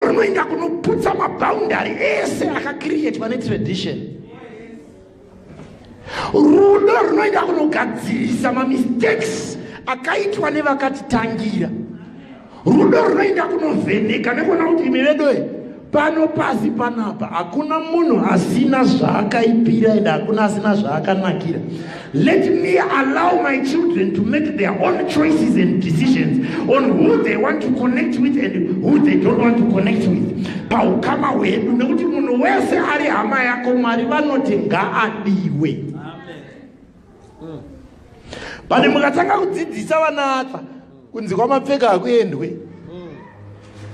unoenda kunoputsa maboundary ese akakiriyetwa netradition rudo runoenda kunogadzirisa mamistakes akaitwa nevakatitangira rudo runoenda kunovheneka nekuona kuti imi vedoe pano pasi panapa hakuna munhu asina zvaakaipira ende hakuna asina zvaakanakira Let me allow my children to make their own choices and decisions on who they want to connect with and who they don't want to connect with. Paukama hwedu nekuti munhu wese ari hama yako Mwari vanoti ngaadiwe. Pane mukatanga kudzidzisa vana ava kunzi kwamapfeka hakuendwe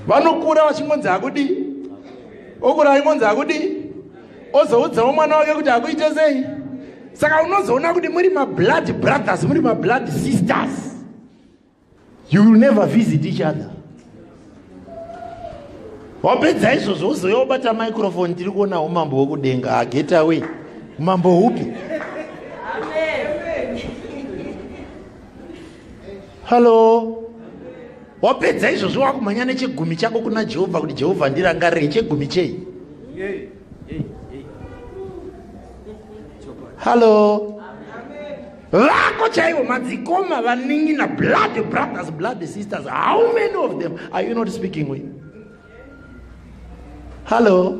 vanokura vachingonzi hakudi okura achingonzi hakudi ozoudzawo mwana wake kuti hakuite sei saka unozoona kuti muri mablood brothers muri mablood sisters you will never visit each other wapedza izvozvo uzouya wobata microfone tiri kuonawo mambo wokudenga ageta away mambo hupi hallo wapedza izvozvo wakumhanya nechegumi chako kuna jehovha kuti jehovha ndirangarire chegumi chei hallo vako chaivo madzikoma vaningina blood brothers blood sisters how many of them are you not speaking with hallo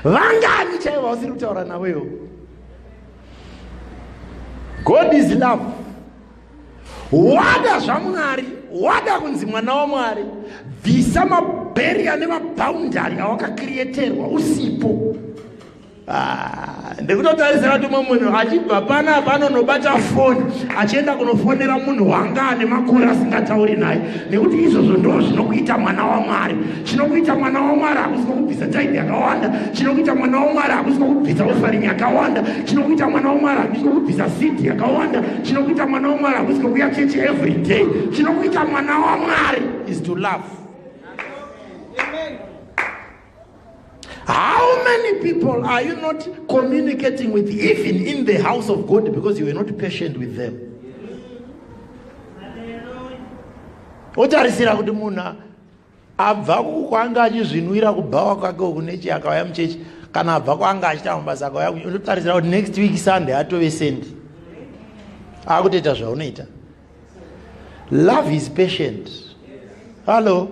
vangani chaivo vausiri kutaura navo iwo god is love wada zvamwari wada kunzi mwana wamwari bvisa mabheriya nemabhaundari awakakirieterwa usipo Ah, ndikutotarisira tumwe munhu achibva pana panonobata foni achienda kunofonera munhu wanga ane makore asingatauri naye nekuti izvozvo ndo zvinokuita mwana wamwari chinokuita mwana wamwari hakusiko kubvisa taidi yakawanda chinokuita mwana wamwari hakusiko kubvisa ofarini yakawanda chinokuita mwana wamwari hakusiko kubvisa sidi yakawanda chinokuita mwana wamwari hakusiko kuya chechi every day chinokuita mwana wamwari is to love How many people are you not communicating with, even in the house of God, because you were not patient with them? otarisira kuti munhu abva kwanga achizvinwira kubhawa kwake uku nechi akauya muchechi kana abva kwanga achita mabasa akauya unotarisira kuti next week sunday atove sendi akutoita zvaunoita love is patient hallo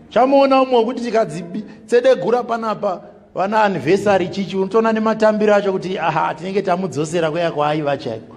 chamuona umwe wekuti tikadzitsedegura panapa vana anniversary chichi unotoona nematambiro acho kuti aha tinenge tamudzosera kuya kwaaiva chaiko